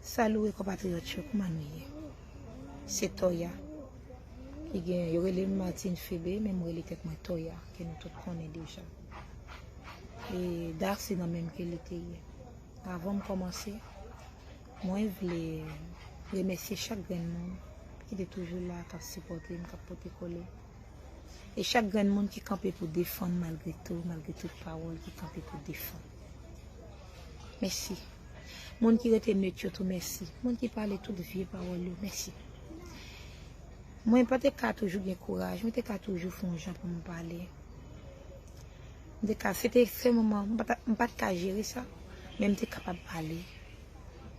Salué compatriote yo kman nou ye se toya ki gen yo relem Martine Phebe men mwen rele tèt mwen toya ke nou tout konnen deja e Darcy nan menm ke li te ye avan m komanse mwen vle remèsye chak grenn moun ki te toujou la kap sipòte m kap pote kole e chak grenn moun ki kanpe pou defann malgre tou malgre tout pawòl ki kanpe pou defann. Mèsi. Moun ki rete neut yo tou mèsi. Moun ki pale tout vye pawòl yo mèsi. Mwen pa te ka toujou gen kouraj. Mwen te ka toujou fon jan pou mwen pale. Mwen te ka, se te se moman, mwen pa te ka jere sa. Men mwen te kapab pale.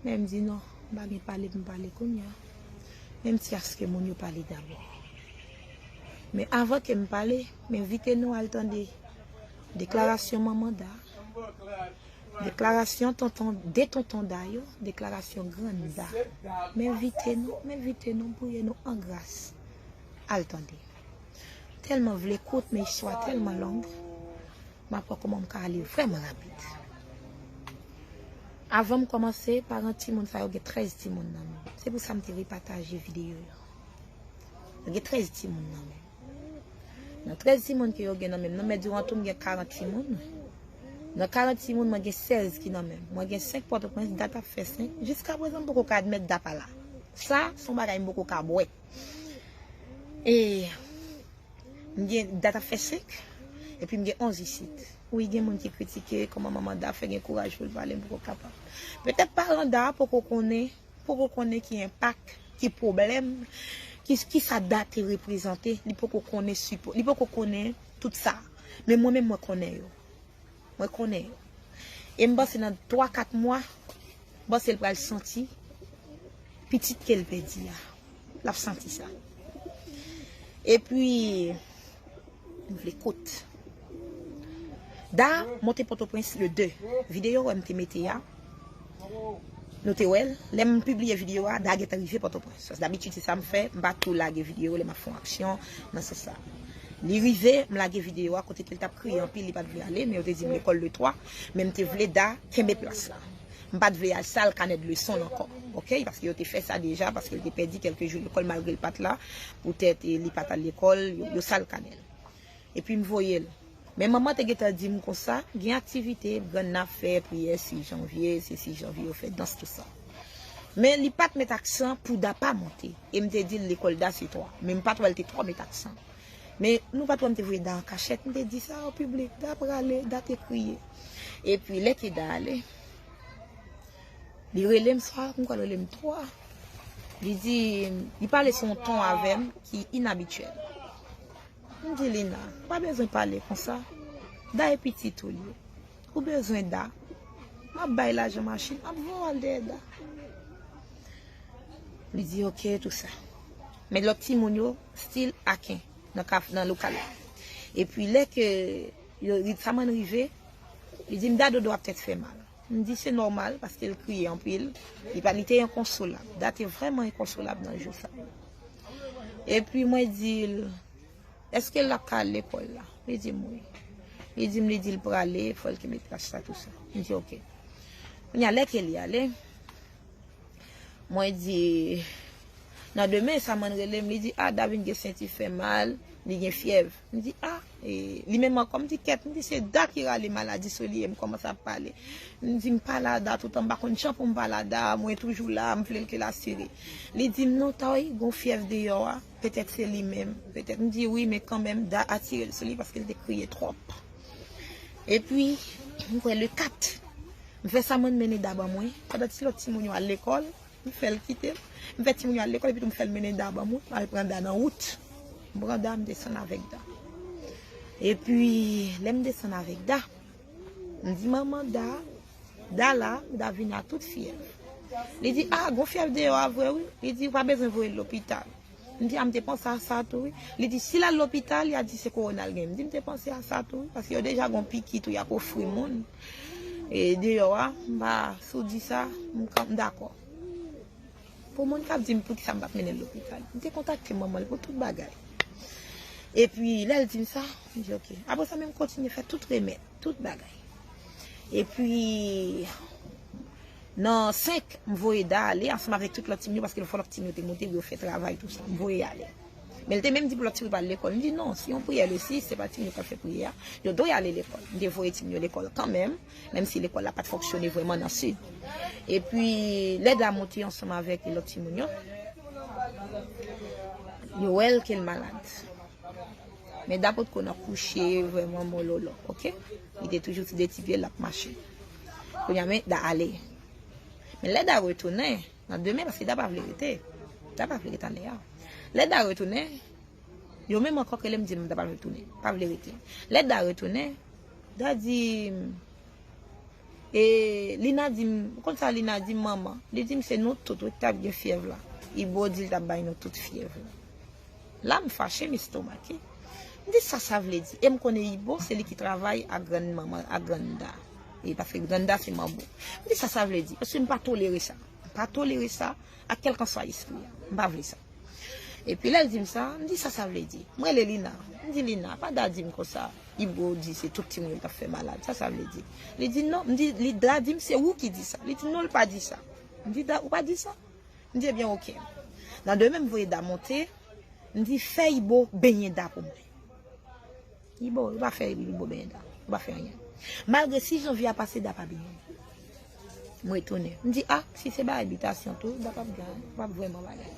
Men mwen di non, mwen pa gen pale pou mwen pale kounye a. Men mwen ti aske moun yo pale dabò. Men avan ke mwen pale, mwen envite nou al tande. Deklarasyon manman Da Deklarasyon tonton de tonton Da yo Deklarasyon grann Da M envite nou, m envite nou, m priye nou an gras al tande Tèlman vle kout men istwa tèlman long m ap wè kouman m ka ale vrèman rapid Avan m kòmanse, paran timoun sa yo gen 13 timoun nan men Se pou sa m te repataje videyo yo Yo gen 13 timoun nan men Nan 13 timoun ke yo gen nan menm nan, men diwan tou m gen 40 timoun. Nan 40 timoun, mwen gen 16 ki nan menm. Mwen gen 5 Pòtoprens, dat ap fè 5. Jiska prezan m poko ka admèt dat pa la. Sa, s on bagay m poko ka bwè. E, m gen, dat ap fè 5, epi m gen 11 isit. Wi, gen moun ki kritike, kòman manman da fè gen kouraj pou l pale, m poko kapab. Petèt paran da poko konnen. poko konnen ki enpak, ki pwoblèm, ki sa dat te reprezante, li poko konnen sipo, li poko konnen tout sa. Men mwen menm mwen konnen yo. Mwen konnen yo. E m panse nan 3, 4 mwa, m panse l pral santi pitit ke l pèdi a. lap santi sa. E pi, m vle kout. Da, monte potoprens le 2. Videyo wè m te mete ya, nou te wè l. Lè m pibliye videyo a, da gentan rive potoprens. Sa se dabitid se sa m fè, m pa tou lage videyo lè m ap fon aksyon nan sans sa. Li rive, m lage videyo a kote ke l tap kriye anpil li pat vle ale, men yo te di m lekòl le 3, men m te vle da kenbe plas la. M pat vle al sal kanè de leson l ankò ok paske yo te fè sa deja paske l te pèdi kèlke jou lekòl malgre l pat la poutèt li pat al lekòl yo sal kanè l epi m voye l men manman te gentan di m konsa gen aktivite grann nan ap fè priyè 6 janvye se 6 janvye yo fè dans tout sa men li pat met aksan pou da pa monte e m te di l lekòl da se 3 men m pat wè l te twò met aksan. Men, nou pa t wè m te voye Da an kachèt, m te di sa an piblik. Da prale, Da te kriye. Epi, lè ke Da ale, li rele m swa, m kwè l rele m twa. Li di, li pale sou yon ton avè m ki inabityèl. M di, Lina, ou pa bezwen pale konsa. Da e pitit ou ye. Ou bezwen Da. M ap bay lajan machin, m ap voye w al dèyè Da. Li di ok tout sa. Men lòt timoun yo stil aken nan lokal la. E pi lè ke Ritzaman rive, li di m Da dodo ap tèt fè mal. M di se nòmal paske l kriye anpil. Li te enkonsolab. Da te vrèman enkonsolab nan jou sa. E pi mwen di l, eske l ap ka al lekòl la? Li di m wi. Li di m li di l prale, fò l kenbe plas la tout sa. M di ok. Kounya lè ke li ale. Mwen di, Nan demen, Saman rele m, li di, A, Davin gen senti fè mal, li gen fyèv. M di, A, e, li menm ankò? M di, Kèt, m di, se Da ki rale maladi sou li e m kòmanse ap pale. M di, M pa la a Da toutan, m pa konn jan pou m pa la a Da, mwen toujou la a, m vle l ke l asire. Li di m, Non, Tòy, gen yon fyèv deyò a. Petèt se li menm. Petèt m di wi men kanmenm Da atire l sou li paske l te kriye twòp. Epi m kwè le 4 m fè sa mwen mennen Da ban mwen pandan ti lòt timoun yo al lekòl m fè l kite m. M fè timoun yo al lekòl epitou m fè l mennen Da ban mwen m al pran Da nan wout. M pran Da m desann avèk Da. Epi lè m desann avèk Da m di manman Da. Dala, Davina tout fyèv. Li di, a, gon fyèv deyò a vre wi. Li di, ou pa bezwen voye l lopital. M di, a, m te panse a sa tou wi. Li di, si l al lopital, y a di se kowona l gen. M di, m te panse a sa tou wi, paske yo deja gon piki tou y ap ofri moun e deyò a. M pa, si w di sa, m dakò. Pou moun k ap di m pou ki sa m pa t mennen l lopital, m te kontakte manman l pou tout bagay. Epi, lè l di m sa, m di ok. Apre sa menm kontinye fè tout remèd. Tout bagay. E pi, nan 5, m voye Da ale ansanm avèk tout lòt timoun yo paske l fò lòt timoun yo te monte pou yo fè travay tou sa. M voye yo ale. Men l te menm di pou lòt timoun yo pa al lekòl. M di non, se yon priyè lesi, se pa timoun yo k ap fè priyè a. Yo dwe ale lekòl. M te voye timoun yo lekòl kanmenm, menm si lekòl la pa t fonksyone vrèman nan sid. E pi, lè Da monte ansanm avèk lòt timoun yo, yo wè l ke l malad. Men da potko nan kouche vreman mololo ok li te toujou ti de ti pye lap mache kounya men da ale men lè da retounen nan demen paske da pa vle rete da pa vle rete ale a lè da retounen yo menm ankò relem dim da pa vle tounen pa vle rete lè da retounen da dim e lina dim ou konn sa lina dim manman li dim se nou tout wi ki tap gen fyèv la ibo dil tap bay nou tout fyèv la. La m fache, m estomake. M di sa sa vle di? E m konnen Ibo se li ki travay ak grann manman, ak grann da. Wi, paske grann da se manbo. M di sa sa vle di? Paske m pa tolere sa. M pa tolere sa ak kèlkanswa espri a. M pa vle sa. E pi lè l di m sa, m di sa sa vle di? M rele Lina. M di Lina, pa Da di m konsa, Ibo di se tout timoun yo l t ap fè malad. Sa sa vle di? Li di non. M di, Da di m se ou ki di sa. Li di non, l pa di sa. M di Da, ou pa di sa? M di ebyen ok. Nan demen m voye Da monte, m di fè Ibo benyen Da pou mwen. Ibo, yo pa fè Ibo benyen Da. Yo pa fè anyen. Malgre si janvye a pase Da pa benyen. M retounen. M di a, si se bagay bitasyon tou, Da pa p gen, pa p vrèman bagay.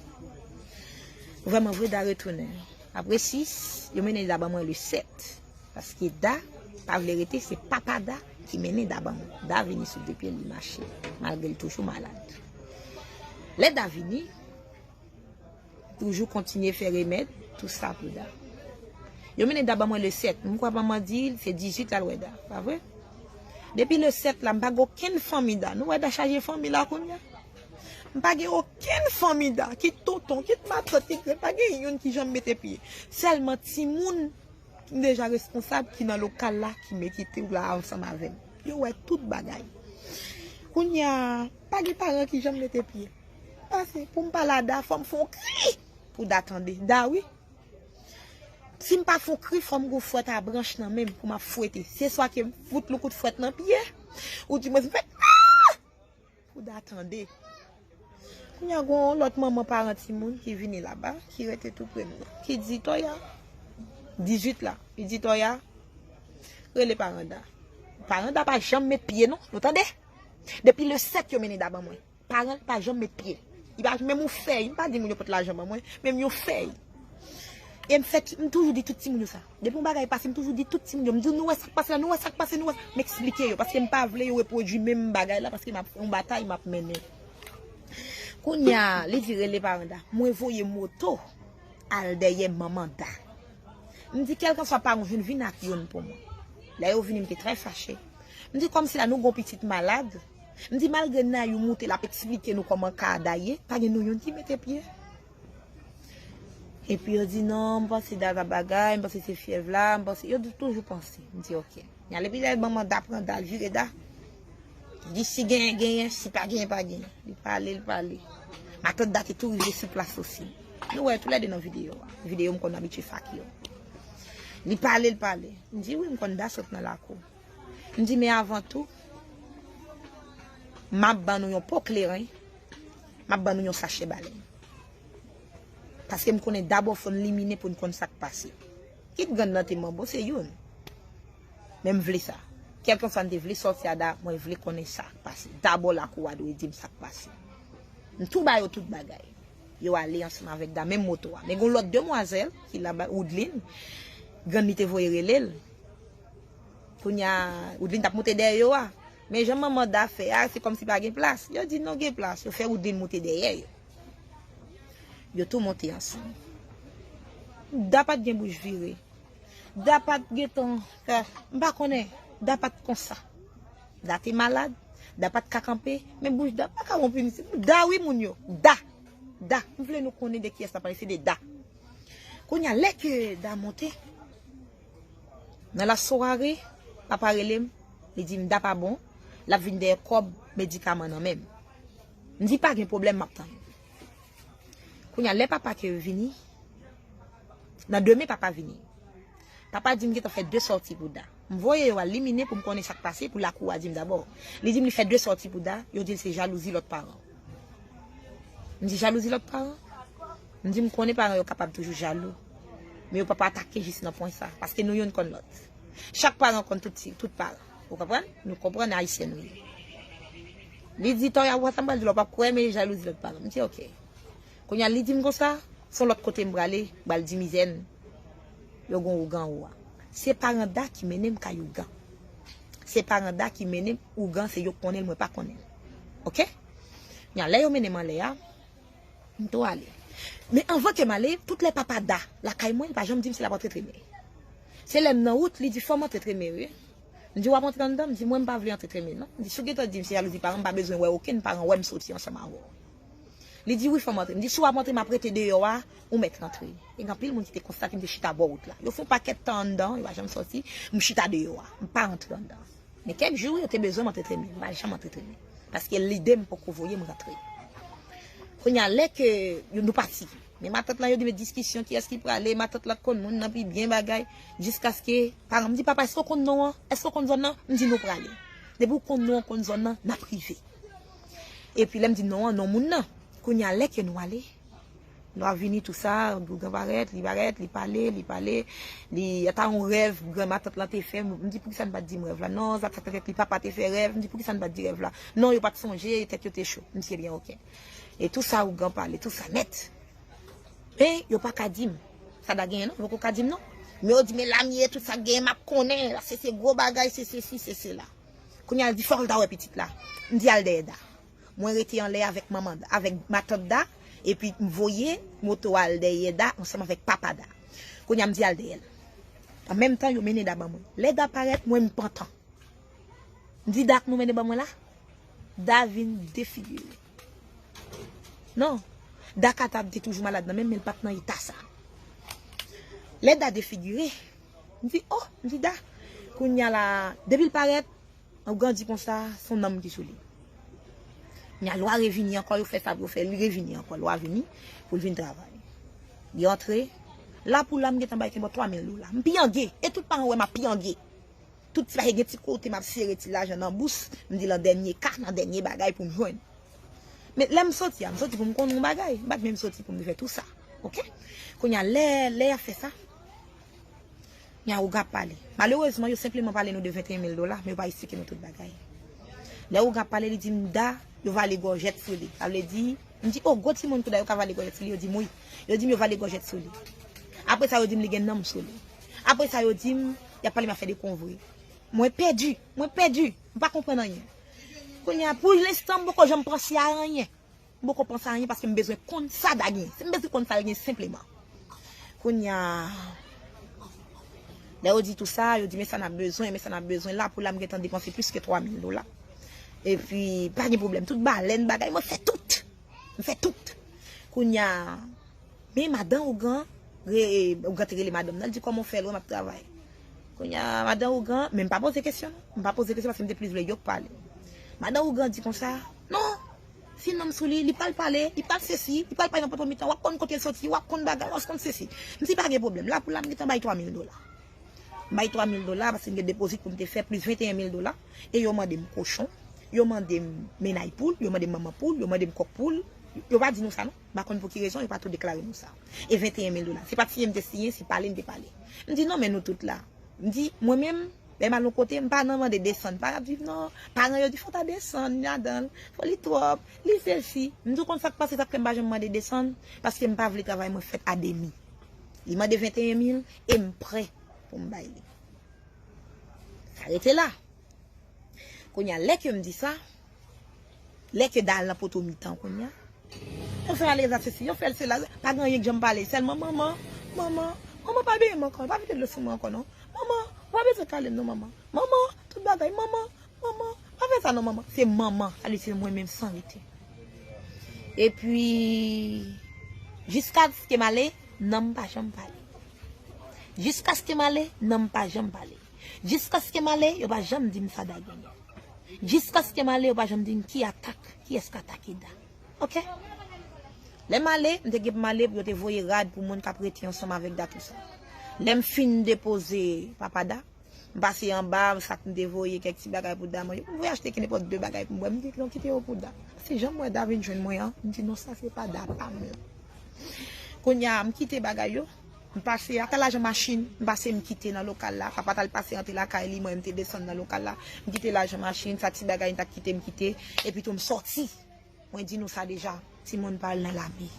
Vrèman vre Da retounen. Apre 6, yo mennen Da ban mwen le 7. Paske Da pa vle rete se papa Da ki mennen Da ban mwen. Da vini sou de pye l li mache malgre l toujou malad. Lè Da vini, li toujou kontinye fè remèd tout sa pou Da. Yo mennen Da ban mwen le 7, m kwè manman di l se 18 l al wè Da, pa vre? Depi le 7 la m pa gen okenn fanmi Da, nou wè Da chaje fanmi la kounye a. M pa gen okenn fanmi Da, kit tonton, kit matant, kit, pa gen youn ki janm mete pye. Sèlman timoun. M deja responsab ki nan lokal la ki mete te ou la ansanm avèm. Yo wè tout bagay. Kounya pa gen paran ki janm mete pye. Pase pou m pale a Da fò m fon kri pou Da tande. Da wi. Si m pa fon kri fò m gon fwèt a branch nan menm pou m ap fwete. Se swa ke m fout lou kout fwèt nan pye ou dimwens m fè aa! Bouda tande. Kounya gon yon lòt manman paran timoun ki vini laba, ki rete tou pre m nan. Ki di Toya, 18 la, li di Toya, rele paran Da. Paran Da pa janm met pye non, nou tande! Depi le 7 yo mennen Da ban mwen. Paran l pa janm met pye. Li pa menm yon fèy, m pa di moun yo pot lajan ban mwen, menm yon fèy. E m fè, m toujou di tout timoun yo sa. Depi yon bagay pase m toujou di tout timoun yo, m di yo nou wè sak pase la, nou wè sak pase, nou wè sak, m eksplike yo paske m pa vle yo repwodui menm bagay la paske map yon batay map mennen. Kounya li di rele paran Da, mwen voye moto al dèyè manman Da. M di kèlkanswa paran w vin vin ak youn pou mwen. Lè yo vini m te trè fache. M di kòmsi la nou gon pitit malad, m di malgre Nayou moute lap eksplike nou kòman ka Da ye, pa gen nou youn ki mete pye. Epi yo di non, m panse dat ap bagay, m panse se fyèv la, m panse, yo di toujou panse. M di ok. N ale pi lè ban manda pran dat, vire dat. Li di si genyen genyen, si pa genyen pa genyen. Li pale, li pale. Matant dat te tou rive sou plas osi. Nou wè yo tou lè de nan videyo a. Videyo m konn abitye fake yo. Li pale, li pale. M di wi m konn dat sot nan lakou. M di men avan tou, m ap ban nou yon po kleren. Map ban nou yon sachè balèn. Paske m konnen dabò fò n limine pou n konn sa k pase. Kit grann nan te manbo, se youn. Men m vle sa. Kèlkanswa n te vle sòti a da, mwen vle konnen sa k pase. Dabò lakou a dwe di m sa k pase. M tou ba yo tout bagay. Yo ale ansanm avèk da, menm moto a. Men gen yon lòt demwazèl ki la ba Woudlin. Grann li te voye rele l. Kounya Woudlin t ap moute dèyè yo a. Men jan manman Da fè a, se kòmsi pa gen plas. Yo di non gen plas. Yo fè Woodline moute dèyè yo. Yo tou monte ansanm. Da pat gen bouch vire. Da pat gen tan fè. M pa konnen. Da pat konsa. Da te malad. Da pat ka kanpe. Men bouch Da pa ka wonp wi mesye. Da wi moun yo. Da. Da. M vle nou konnen de kiyès m ap pale. Se de Da. Kounya lè ke Da monte. Nan la soirée, papa rele m, li di m Da pa bon, l ap vin dèyè kòb medikaman nan men m. M di pa gen pwoblèm m ap tann. Kounya lè papa ke vini, nan demen papa vini. Papa di m gentan fè 2 sòti pou Da. M voye yo al liminen pou m konnen sa k pase pou lakou a di m dabò. Li di m li fè 2 sòti pou Da, yo di l se jalouzi lòt paran. M di jalouzi lòt paran? M di m konnen paran yo kapab toujou jalou. Men yo pap atake jis nan pwen sa. Paske nou youn konn lòt. Chak paran konn tout ti, tout paran. Ou konprann? Nou konprann Ayisyen nou ye. Li di Toya wè sa m pral di la w pap kwè men jalouzi lòt paran. M di ok. Kounye a li di m konsa, s on lòt kote m prale, m pral di mizè n yo gen ougan anwo a. Se paran Da ki mennen m kay ougan. Se paran Da ki mennen m ougan se yo k konnen l mwen pa konnen l. Ok? Kounye a lè yo mennen m anlè a. M tou ale. Men anvan ke m ale, tout lè papa Da lakay mwen, li pa janm di m si l ap antre Treme. Se lè m nan wout, li di, Fò m antre Treme wi. M di, W ap antre anndan? Li di, Mwen m pa vle antre Treme non. M di, Si w gentan di m se jalouzi paran m, m pa bezwen wè okenn paran wè m soti ansanm avè w. Li di, Wi fò m antre. M di, Si w ap antre, m ap rete deyò a, ou mèt rantre. E gen anpil moun ki te konstate m te chita bò wout la. Yo fè yon pakèt tan anndan, yo pa janm soti, m chita deyò a. M pa rantre anndan. Men kèk jou yo te bezwen m antreteni, m pa janm antreteni paske lide m poko voye m rantre. Kounye a lè ke nou pati, men matant lan yo di men diskisyon kiyès ki prale, matant lan konn moun nan pi byen bagay, jiskaske paran m di papa èske w konn non an, èske w konn zòn nan, m di nou prale. Depi w konn non an, w konn zòn nan, n ap rive. Epi lè m di non an, non moun nan. Kounye a lè ke nou ale. Nou ap vini tou sa, Bougan parèt, li parèt, li pale, li pale, li ata yon rèv gran matant lan te fè, m di poukisa nou pat di m rèv la, non sa pat fè tèt li, papa te fè rèv, m di poukisa nou pat di rèv la, non yo pat sonje, tèt yo te cho, m di ebyen ok. E tou sa Ougan pale, tou sa nèt. E yo pa ka di m, sa da genyen non, yo poko ka di m non. Men yo di men la m ye, tout sa k genyen m ap konnen, la se se gwo bagay, se sesi, se sela. Kounya l di fò l ta wè pitit la, m di al dèyè Da. Mwen rete anlè avèk manman Da, avèk matant Da, epi m voye moto a al dèyè Da ansanm avèk papa Da. Kounye a m di al dèyè l. An menm tan, yo mennen Da ban mwen. Lè Da parèt, m wè m pantan. M di Da, nou mennen ban mwen la? Da vin defigire. Non, Da kapab te toujou malad nan men, men l pa t nan eta sa. Lè Da defigire, m di, O! M di Da, kounye a la, depi l parèt. Ougan di konsa son nanm ki sou li. Knya lwa revini ankò yo fè sa pou yo fè li revini ankò lwa vini poul vin travay. Li antre la pou la m gentan bay kenbò 3000 dola. M piyange e tout paran wè m ap piyange. Tout ti bagay gen ti kote m ap sere ti lajan nan bous m di lan dènye ka nan dènye bagay pou m jwenn. Men lè m soti a m soti pou m konnen yon bagay m pat menm soti pou m te fè tou sa ok. Kounya lè lè yap fè sa. Yawou Gap pale. Malerezman, yo senpleman pale nou de 21 mil dola, men yo pa esplike nou tout bagay. Lè Ou Gap pale, li di m, Da, yo vale gòjèt sou li. Sa vle di, m di, O, gwo timoun tou Da yo ka vale gòjèt sou li? Yo di m, Wi. Yo di m yo vale gòjèt sou li. Apre sa, yo di m li gen nanm sou li. Apre sa, yo di m, y ap pale m afè de konvri. Mwen pèdi! Mwen pèdi! M pa konprann anyen. Kounye a, pou lenstan, m poko janm panse a anyen. M poko panse anyen paske m bezwen konn sa Da gen. M bezwen konn sa l gen senpleman. Kounya Lè yo di tou sa, yo di men sa n ap bezwen, men sa n ap bezwen. La pou la m gentan depanse plis ke 3 mil dola. Epi pa gen pwoblèm. Tout balèn bagay mwen fè tout. M fè tout. Kounya Men madan ougan Ougan te rele madanm nan l di kòman w fè l wè m ap travay. Kounya madan ougan Men m pa poze kesyon non. M pa poze kesyon paske m te plis vle yo k pale. Madan ougan di konsa Non! Ti nonm sou li, li pral pale, li pral sesi, li pral pale nan poto mitan, wap konn kote l soti, wap konn bagay, wap konn sesi. M di pa gen pwoblèm, la pou la m gentan bay 3000 dola. M bay 3000 dola paske m gen depozit pou m te fè plis 21 mil dola e yo mande m kochon, yo mande m menay poul, yo mande m manman poul, yo mande m kòk poul, yo pa di nou sa non, m pa konn pou ki rezon yo pa tou deklare nou sa. E 21 mil dola, se pa t siyen m te siyen, se pale m te pale. M di non men nou tout la, m di mwen menm, Lè m al yon kote, m pa nan mande desann. Pa rap viv non. Paran yo di fò w ta desann li ladan l. Fò li twòp. Li sesi. M di w konn sa k pase sa k fè m pa janm mande desann? Paske m pa vle travay mwen fèt a demi. Li mande 21 mil e m prè pou m bay li. Sa rete la. Kounye a lè ke m di sa. Lè ke dal nan poto mitan kounya. Yo fè alèz ak sesi, yo fè sela, pa gen anyen k janm pale, sèlman manman, manman, manman pa beye m ankò, pa vide dlo sou mwen ankò non, manman, ou pa bezwen kale m non manman, manman, tout bagay, manman, manman, pa fè sa non manman, se manman, sa vle di se mwen menm san rete. Epi, jiskaske m ale, nan m pa janm pale. Jiskaske m ale, nan m pa janm pale. Jiskaske m ale, yo pa janm di m sa dal genyen. Jiskaske m ale yo pa janm di m ki atak, kiyès k atake Da. Ok. Lè m ale, m te gen pou m ale pou yo te voye rad pou moun k ap rete ansanm avèk Da tousa. Lè m fin depoze papa Da, m pase anba sa k m te voye kèk ti bagay pou Da manje. M voye achte kenenpòt de bagay pou m bwè. M di non kite yo pou Da. Se jan m wè Da vin jwenn mwen an, m di non sa se pa Da pa m lan. Kounya m kite bagay yo. M pase ata lajan machin m pase m kite nan lokal la. Papa t al pase antre lakay li, mwen menm m te desann nan lokal la. M kite lajan machin, sa ti bagay m ta kite m kite. Epitou m soti. Mwen di nou sa deja, timoun pa al nan lame.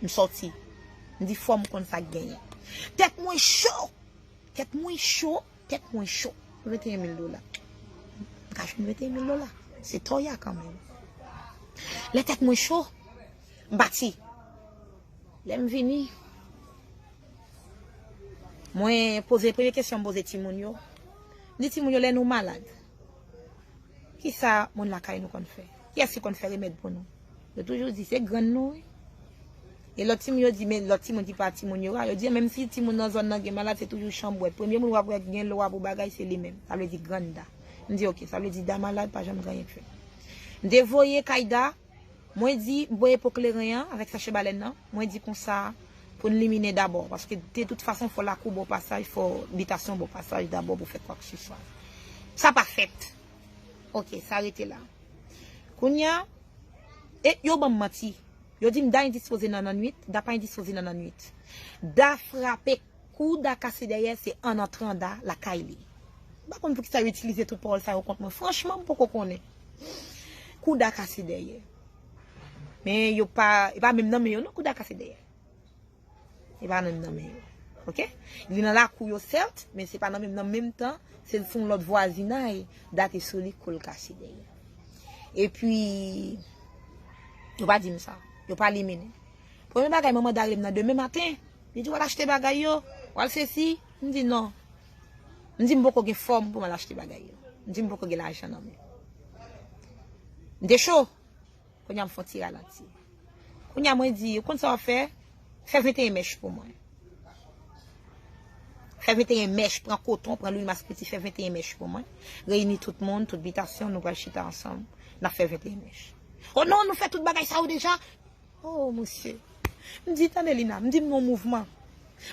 M soti. M di fò m konn sa k genyen. Tèt mwen cho! Tèt mwen cho! Tèt mwen cho! 21 mil dola. M ka jwenn 21 mil dola? Se tò y a kanmenm. Lè tèt mwen cho. M pati. Lè m vini, mwen poze premye kesyon m poze timoun yo, m di timoun yo lè nou malad, ki sa moun lakay nou konn fè? Kiyès ki konn fè remèd pou nou? Yo toujou di, se grann nou wi. E lòt timoun yo di, men lòt timoun ki pa timoun yo a, yo di menm si timoun nan zòn nan gen malad, se toujou chanbwèt. Premye moun w ap wè ki gen lwa pou bagay, se li menm. Sa vle di grann Da. M di, ok, sa vle di Da malad, pa janm gen anyen k fèt. M te voye kay Da. Mwen di, m voye po kleren an avèk sache balèn nan, mwen di konsa pou n liminen dabò, paske de tout fason fò lakou bò pasaj, fò bitasyon bò pasaj dabò pou fè kwakseswa. Sa pa fèt. Ok, sa rete la. Kounye a, e yo ban m manti. Yo di m Da endispoze nan lannuit, Da pa endispoze nan lannuit. Da frape Kou da kase dèyè se an antran da lakay li. M pa konn poukisa yo itilize tout pawòl sa yo kont mwen. Franchman m poko konnen. Kou da kase dèyè. Men yo pa, e pa menm nan men yo non kou da kase dèyè. E pa menm nan men yo. Ok? Li nan lakou yo sèt, men se pa nan menm nan menm tan, se l sou yon lòt vwazinay, da te sou li kou l kase dèyè. E pi, yo pa di m sa. Yo pa liminen. Premye bagay manman da rele m nan demen maten. Li di wal achte bagay yo, wal sesi, m di non. M di m poko gen fòm pou m al achte bagay yo. M di m poko gen lajan nan men. M te cho. Kounye a m fon ti ralanti. Kounye a mwen di, ou konn sa wap fè? Fè 21 mèch pou mwen. Fè 21 mèch, pran koton, pran lwil maskriti, fè 21 mèch pou mwen. Reyini tout moun, tout bitasyon, nou pral chita ansanm, nap fè 21 mèch. O non, nou fè tout bagay sa yo deja. Hoo mesye m di tande lina m di m nan mouvman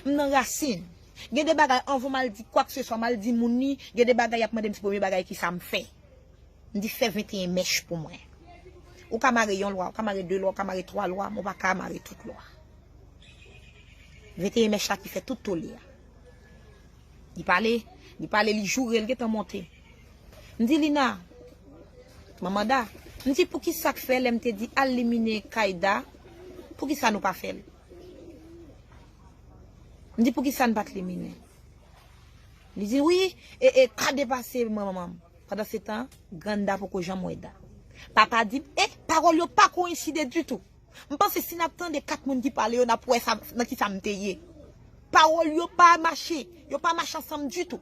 m nan rasin gen de bagay anvan mal di kwak se swa mal di moun ni gen de bagay yap mandem se premye bagay kisa m fè m di fè 21 mèch pou mwen ou ka mare yon lwa ou ka mare 2 lwa ou ka mare 3 lwa men ou paka mare tout lwa 21 mèch la ki fè tout tole a li pale li pale li joure li gentan monte. M di Lina, manman Da, m di poukisa k fè lè m te di al limine kay Da, poukisa nou pa fè l? M di poukisa n pa t limine? Li di wi, e e ka depase mwen manman m. Pandansetan, grann Da poko janm wè Da. Papa di m, e, pawòl yo pa koyenside ditou. M panse si n ap tande kat moun ki pale yo n ap wè nan kisa m te ye. Pawòl yo pa mache, yo pa mache ansanm ditou.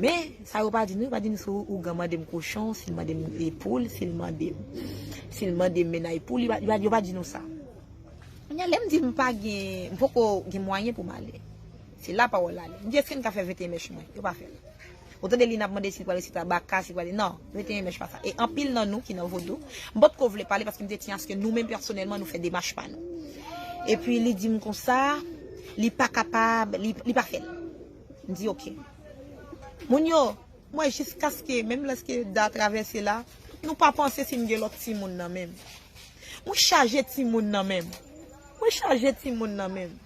Men, sa yo pa di nou, yo pa di nou si ougan mande m kochon, si l mande m poul, si l mande m, si l mande m mennay poul, yo pa, yo pa di nou sa. Kounye a, lè m di m pa gen, m poko gen mwayen pou m ale, se la pawòl la ale. M di èske n ka fè 21 mèch mwen? Yo pa fè l. Ou tande li nan ap mande si l prale site Abaka, si l prale, non, 21 mèch pa sa. E anpil nan nou ki nan Vodou, m potko vle pale paske m te tinya aske nou menm pèsonèlman nou fè demach pa nou. Epi li di m konsa, li pa kapab, li, li pa fè l. M di ok. Moun yo, m wè jiskaske menm lèske Da travèse la, nou pa panse si m gen lòt timoun nan menm. Mwen chaje timoun nan menm. Mwen chaje timoun nan menm.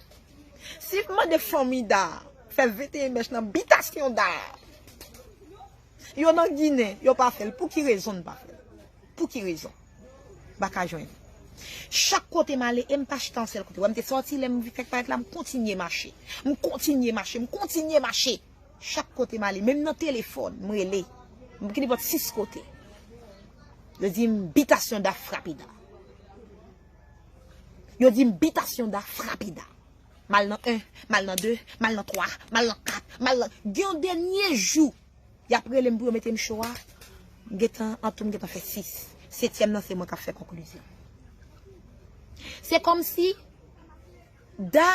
Si m mande fanmi Da fè 21 mèch nan bitasyon Da, yo nan Ginen, yo pa fè l. Pou ki rezon n pa fè l? Pou ki rezon? M pa ka jwenn. Chak kote m ale e m pa chita yon sèl kote. Wè m te sòti lè m vin fèk parèt la, m kontinye mache. M kontinye mache, m kontinye mache. Chak kote m ale, menm nan telefòn, m rele. M ki nenpòt 6 kote. Yo di m bitasyon da frapida. Yo di m bitasyon da frapida. M al nan 1, m al nan 2, m al nan 3, m al nan 4, m al nan... Gen yon dènye jou. Yap relem pou yo metem cho a. M gentan an tou m gentan fè 6. Setyèm nan se mwen kap fè konklizyon. Se kòmsi Da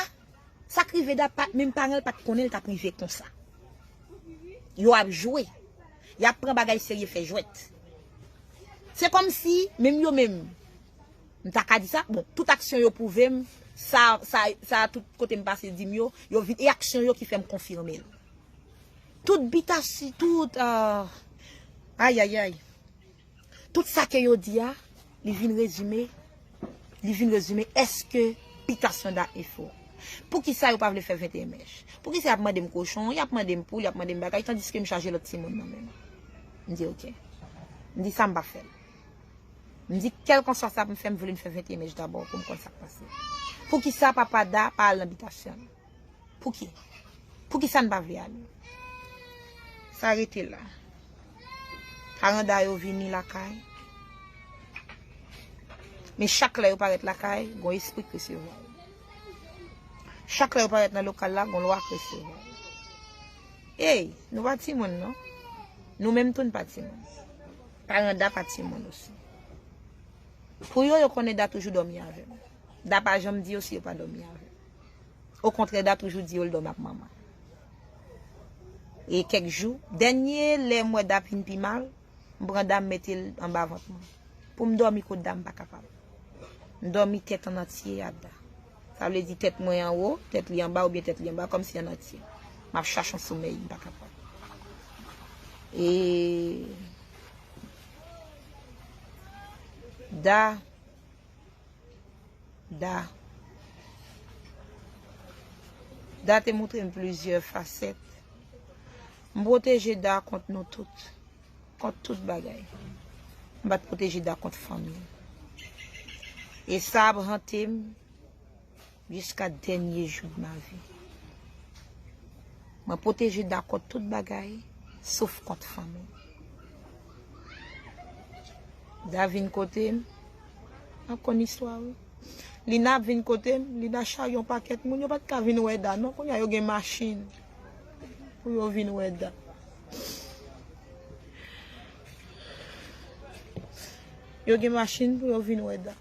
sak rive Da pat menm paranl pat konnen l tap rive konsa. Yo ap jwe. Yap pran bagay serye fè jwèt. Se kòmsi menm yo menm m ta ka di sa bon tout aksyon yo pwouvem sa sa tout kotem pase dim yo yo vin e aksyon yo ki fèm konfime l. Tout bitasi tout aah ayayay tout sa ke yo di a li vin rezime li vin rezime eske bitasyon da efo poukisa yo pa vle fè 21 mèch poukisa yap mandem kochon yap mandem poul yap mandem bagay tandiske m chaje lòt timoun nan menm m di ok m di sa m pa fèl m di kèlkanswa sa pou m fè m vle m fè 21 mèch dabò pou m konn sak pase poukisa papa da pa al nan bitasyon. Pouki? Poukisa n pa vle ale? Sa rete la. Aranda yo vini lakay. Men chak lè yo parèt lakay, gon espri k resevwa yo. Chak lè yo parèt nan lokal la, gon lwa k resevwa yo. Ey, nou pa timoun non. Nou menm tou n pa timoun. Aranda pa timoun osi. Pou yo, yo konnen Da toujou dòmi avè m. Da pa janm di yo si yo pa dòmi avè m. Okontrè Da toujou di yo l dòmi ak Mama. E kèk jou, dènye lè m wè Da fin pi mal, m pran Da m mete l anba vant mwen. Pou m dòmi kot Da m pa kapab. M dòmi tèt an antye ak Da. Sa vle di tèt mwen anwo, tèt li anba oubyen tèt li anba kòmsi an antye. M ap chache yon somèy, m pa kapab. E Da. Da Da te moutre m plizyè fasèt. M pwoteje Da kont nou tout. Kont tout bagay. M pa t pwoteje Da kont fanmi l. E sa ap hante m. Jiska dènye jou de ma vi. Mwen pwoteje da kont tout bagay, sof kont fanmi m. Da vin kote m, nan konn istwa wi. Lina ap vin kote m, Lina charye yon pakèt moun, yo pa t ka vin wè Da non, kounya yo gen machin pou yo vin wè Da. Yo gen machin pou yo vin wè Da.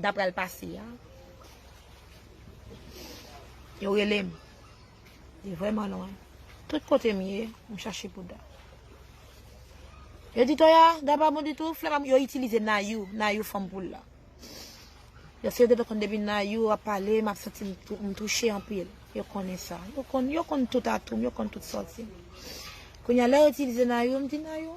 ta pral pase a. Yo rele m. Li vreman lwen. Tout kote m ye, m chache bouda. Yo di to ya, da pa bon ditou, flè pa m, yo itilize nayou, nayou fanm poul la. Yo se yo depe konn depi nayou ap pale, m ap santi m touche anpil. Yo konnen sa. Yo konn tout atoum, yo konn tout sòti. Kounye a lè yo itilize nayou, m di nayou.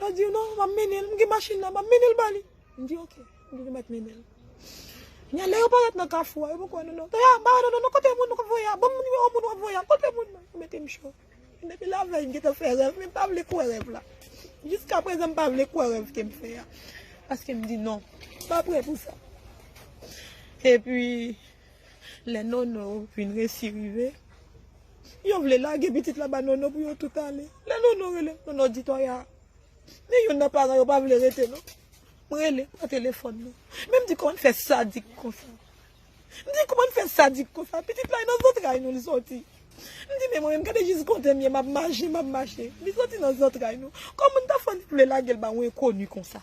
Yo di non, m ap mennen l, m gen machin nan, m ap mennen l ba li. M di ok, m di nou mèt mennen l. Kounye a lè yo parèt nan kafou a, yo poko wè nou non. Toya, ba yo non, non kote moun nou k ap voye a, ban m nimewo moun w ap voye a, kote moun nan? Yo mete m cho. Depi lavèy m gentan fè rèv men m pa vle kwè rèv la. Jiskaprezan m pa vle kwè rèv ke m fè a. Paske m di non, m pa prè pou sa. Epi. Lè Nono vin resi rive, yo vle lage pitit la ba Nono pou yo tout ale. Lè Nono rele, Nono di Toya, Men youn nan paran yo pa vle rete non. M rele pa telefòn non. Men m di kòman n fè sadik konsa. M di kòman n fè sadik konsa. Pitit la e nan zantray nou li soti. M di men mwen menm gade jis kote m ye m ap mache, m ap mache. Li soti nan zantray nou. Kòman n ta fè li vle lage l ba yon enkoni konsa.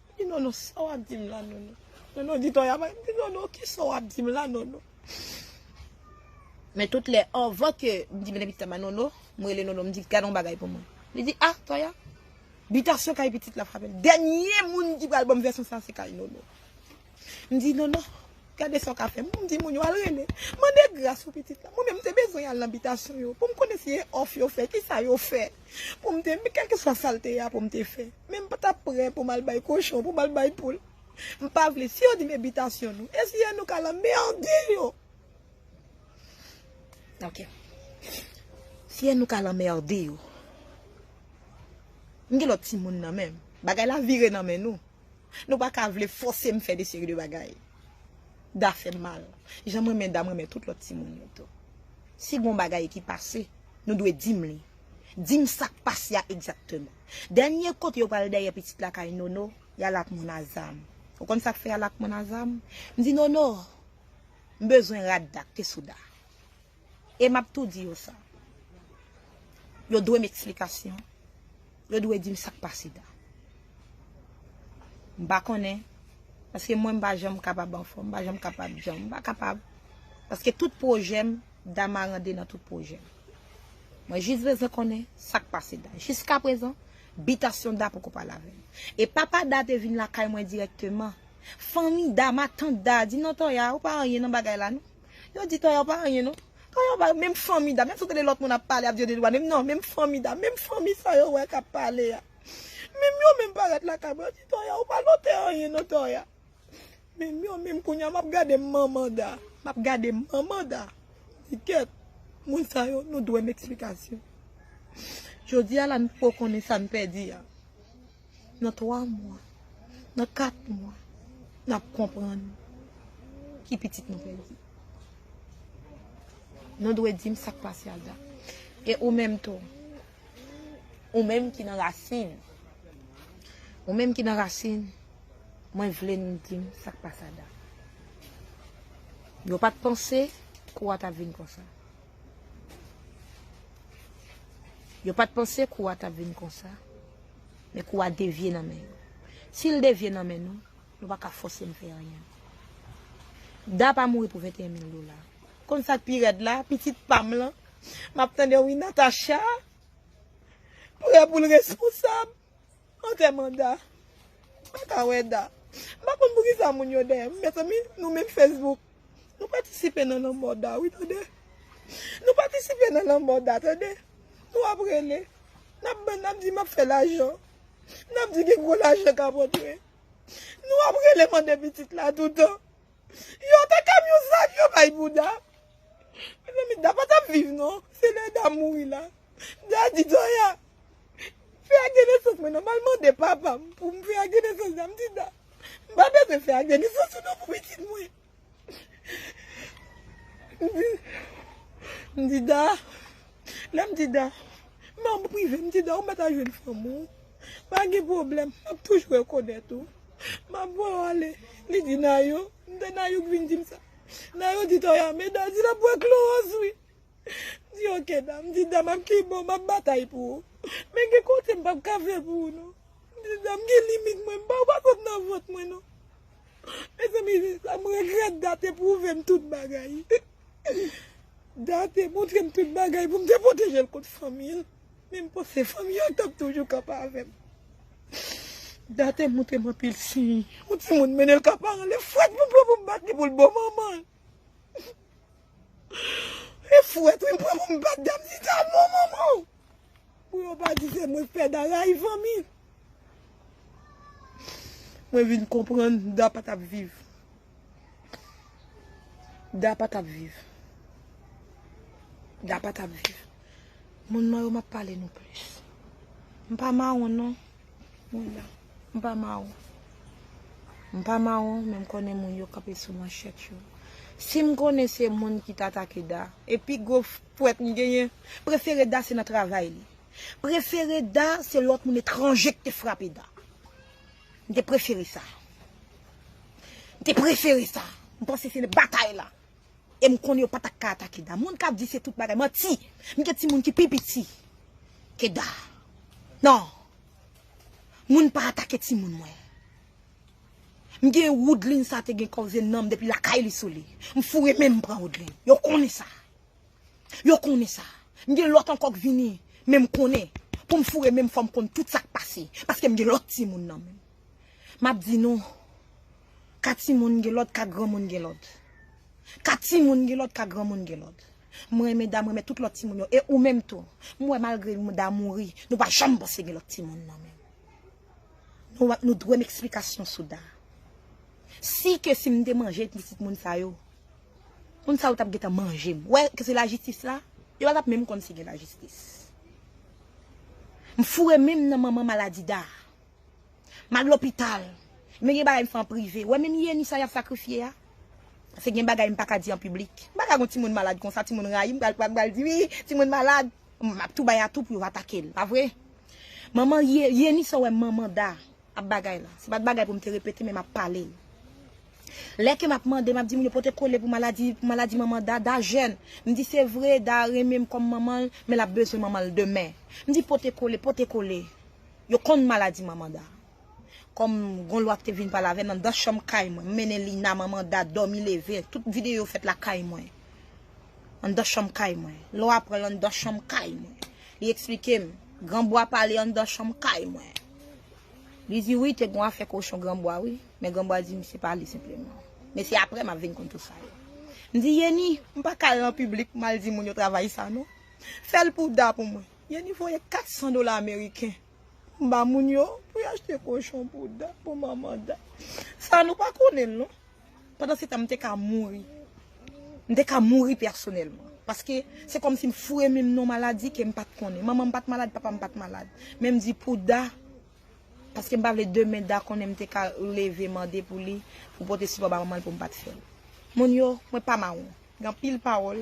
Di nono sa wap dim la nono. Nono di toya bay di nono kisa wap dim la nono. Men tout lè anvan ke m di mete pitit la ba nono, m rele nono m di gad yon bagay pou mwen. Li di ah toya bitasyon kay pitit la frapel. Dènye moun ki pral banm vèsyon sa se kay nono. M di non non gade sa w ka fè m di moun yo al rele mande gras pou pitit la mwen menm m te bezwen al nan bitasyon yo pou m konnen si e òf yo fè ki sa yo fè pou m te kèlkeswa sa l te ye a pou m te fè men m pa t ap pre pou m al bay kochon pou m al bay poul m pa vle si yo di m e bitasyon nou e si e nou k al anmède yo ok si e nou k al anmède yo m gen lòt timoun nan men m bagay la vire nan men nou. Nou pa ka vle fose m fè de seri de bagay. Da fè m mal. Jan m renmen Da m renmen tout lòt timoun yo tou. Si gon bagay ki pase, nou dwe di m li. Di m sa k pase a egzakteman. Dènye kote yo pral dèyè pitit la kay Nono, y al ak moun Azam. Ou konn sa k fè y al ak moun Azam? M di Nono, M bezwen rad Da k te sou Da. E map tou di yo sa. Yo dwem eksplikasyon. Yo dwe dim sak pase ta. M pa konnen. Paske mwen m pa janm kapab anfom. M pa janm kapab janm. M pa kapab. Paske tout pwojem dama rande nan tout pwojem. Mwen jis bezwen konnen sak pase ta. Jiska prezan, bitasyon da poko pale avem. E papa da te vin lakay mwen direkteman. Fanmi dama, tant da, di non Toya ou pa anyen nan bagay la non. Yo di tayar pa anyen non. Tayar pa menm fanmi da menm si w tande lòt moun ap pale ap di yo 2 dwa menm non menm fanmi da menm fanmi sa yo wè kap pale a menm yo menm parèt lakay mwen yo di tayar ou pa lotè anyen non tayar menm yo menm kounya map gade manman da map gade manman da di kèt moun sa yo nou dwem eksplikasyon jodi a la nou poko konnen sa n pèdi a. nan 3 mwa, nan 4 mwa, nap konprann ki pitit nou pèdi. Nou dwe dim sak pase ak da. E ou menm tou, ou menm ki nan rasin, ou menm ki nan rasin, mwen vle nou dim sak pase ak da. Yo pat panse kou a tap vin konsa. Yo pat panse kou a tap vin konsa. Men kou a devye nan men yo. Si l devye nan men nou, nou pa ka fòse m fè anyen. Da pa mouri pou 21 mil dola. Ou konn sa k pi rèd la, pitit pa m lan? M ap tande wi Natacha prè pou l responsab antèman Da. M pa ka wè Da. M pa konn poukisa moun yo dèyè m. Mezanmi, nou menm Facebook. Nou patisipe nan lanmò Da wi tande. Nou patisipe nan lanmò Da tande. Nou ap rele. N ap ban n ap di m ap fè lajan. N ap di gen gwo lajan k ap antre. Nou ap rele mande pitit la toutan. Yo ta kamyon zak yo bay pou Da. Mezanmi Da pa t ap viv non. Se lè Da mouri la. Da di Zoya Fè ak de nesans mwen nòmal mande papa m pou m fè ak de nesans la m di nan m pa bezwen fè ak de nesans ou non pou pitit mwen m di m di da lè m di da manm prive m di da ou mèt al jwenn fanm ou pa gen pwoblèm m ap toujou rekonèt ou m ap voye w ale li di Nayou m tande Nayou k vin di m sa Nayou di Toya men da di l ap bwè klowòz wi. Di ok dam, di dam ap ki bò map batay pou ou. Men gen kote m pap ka fè pou ou non. Di dam gen limit mwen, m pa ou pa sot nan vant mwen non. Mezanmi Jisla m regrèt Date pwouve m tout bagay. Date montre m tout bagay pou m te pwoteje l kont fanmi l. Men m panse fanmi yo tap toujou kanpe avè m. Date montre m anpil siy. Yon timoun mennen l ka paran l e fwèt pou m pran pou m bat li pou l bo manman l. E fwet wi m pran pou m bat dam ni ta non manman. Pou yo pa di se mwen k fè da rayiv anmi. Mwen vin konprann da pa tap viv. Da pa tap viv. Da pa tap viv. Moun man yo map pale nou plis. M pa mawon non. Mwen la. M pa mawon. M pa mawon, men m konnen moun yo kanpe sou manchèt yo. Si m konnen se moun ki t atake Da, e pi gwo pwèt m genyen, prefere Da se nan travay li. Prefere Da se lòt moun etranje k te frape Da. M te prefere sa. M te prefere sa. M panse se nan batay la. e m konnen yo pa ta ka atake Da. Moun k ap di se tout bagay, manti! M gen timoun ki pi piti ke Da. Non! Moun pa atake timoun mwen. M gen Woodline sa te gen koze nanm depi lakay li sou li. M foure men m m pran Woodline. Yo konnen sa. Yo konnen sa. M gen lòt ankò k vini, men m konnen pou m foure men m fò m konn tout sa k pase paske m gen lòt timoun nan men m. M ap di nou. Ka timoun gen lòd, ka granmoun gen lòd. Ka timoun gen lòd, ka granmoun gen lòd. M renmen da m renmen tout lòt timoun yo. E ou menm tou. M wè malgre da mouri, nou pa janm panse gen lòt timoun nan men. Nou dwe m eksplikasyon sou da. Si ke si m te manje pitit moun sa yo, moun sa yo t ap gentan manje m. Ou wè ke se lajistis la? Yo pa t ap menm konn si gen lajistis. M foure men m nan manman maladi da. M al lopital. Men gen bagay m fè an prive. Ou wè menm Yeni sa y ap sakrifye a? Se gen bagay m pa ka di an piblik. M pa ka gen yon timoun malad konsa, timoun rayi m, pral pral di wi, timoun malad. M ap tou bay atou pou yo atake l, pa vre? Manman Yeni sa w wè manman Da ap bagay la, se pa t bagay pou m te repete men m ap pale l. Lè ke m ap mande, m ap di moun yo pote kole pou maladi, pou maladi manman Da. Da jèn. M di se vre Da renmen m kòm manman l, men l ap bezwen manman l demen. M di pote kole, pote kole. Yo konn maladi manman Da. Kòm gon lwa ki te vin pale avè m anndan chanm kay mwen. M mennen Lina, manman Da, dòmi leve. Tout videyo yo fèt lakay mwen. Anndan chanm kay mwen. Lò a pran l anndan chanm kay mwen. Li eksplike m. Granbwa pale anndan chanm kay mwen. Li di wi te gon afè kochon granbwa wi. Men granbwa di m se pa li senpleman. Men se aprè m ap vin konn tout sa yo. M di Yeni, m pa ka al nan piblik m al di moun yo travay sa non. Fè l pou Da pou mwen. Yeni voye 400 dola ameriken pou m ba moun yo pou yo achte kochon pou Da, pou manman Da. Sa nou pa konnen l non. Pandan se tan m te ka mouri. M te ka mouri pèsonèlman. Paske se kòm si m foure min m nan yon maladi ke m pa t konnen. Manman m pa t malad, papa m pa t malad. Men m di pou Da, paske m pa vle demen Da konnen m te ka leve mande pou li pou pote sipò ba manman l pou m pa t fè l. Moun yo, mwen pa mawon. Gen anpil pawòl.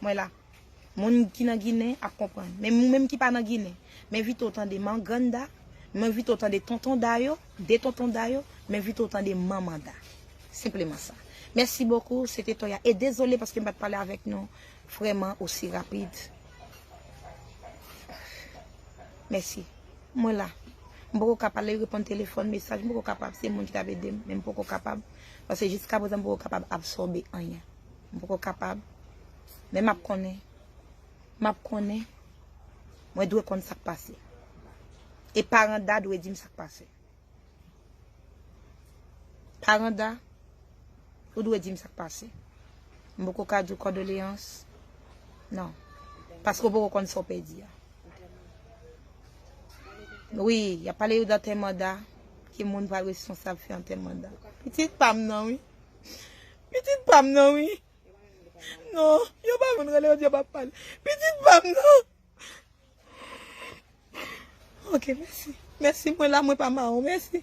Mwen la. Moun ki nan ginen ap konprann. Men moun menm ki pa nan ginen. M envite w tande man grann da. M envite w tande tonton da yo. 2 tonton da yo. M envite w tande manman da. Senpleman sa. Mèsi bokou. Se te Toya. E dezole paske m pa t pale avèk nou vrèman osi rapid. Mèsi. Mwen la. M poko ka pale, reponn telefòn, mesaj. M poko kapab. Se moun ki t ap ede m. Men m poko kapab. Paske jiskaprezan m poko kapab absòbe anyen. M poko kapab. Men map konnen. Map konnen. Mwen dwe konn sak pase. E paran Da dwe dim sak pase. Paran Da, ou dwe dim sak pase. M poko ka di w kòdoleyans. Non. Paske w poko konn sa w pèdi a. Wi, yap pale yo dantèman Da. Ki moun pral responsab fè antèman Da. Pitit pam nan wi. Pitit pam nan wi. Non, yo pa konn rele, yo di yo pa pale. Pitit pam nan. Ok, mèsi. Mèsi, mwen la, mwen pa mawon. Mèsi.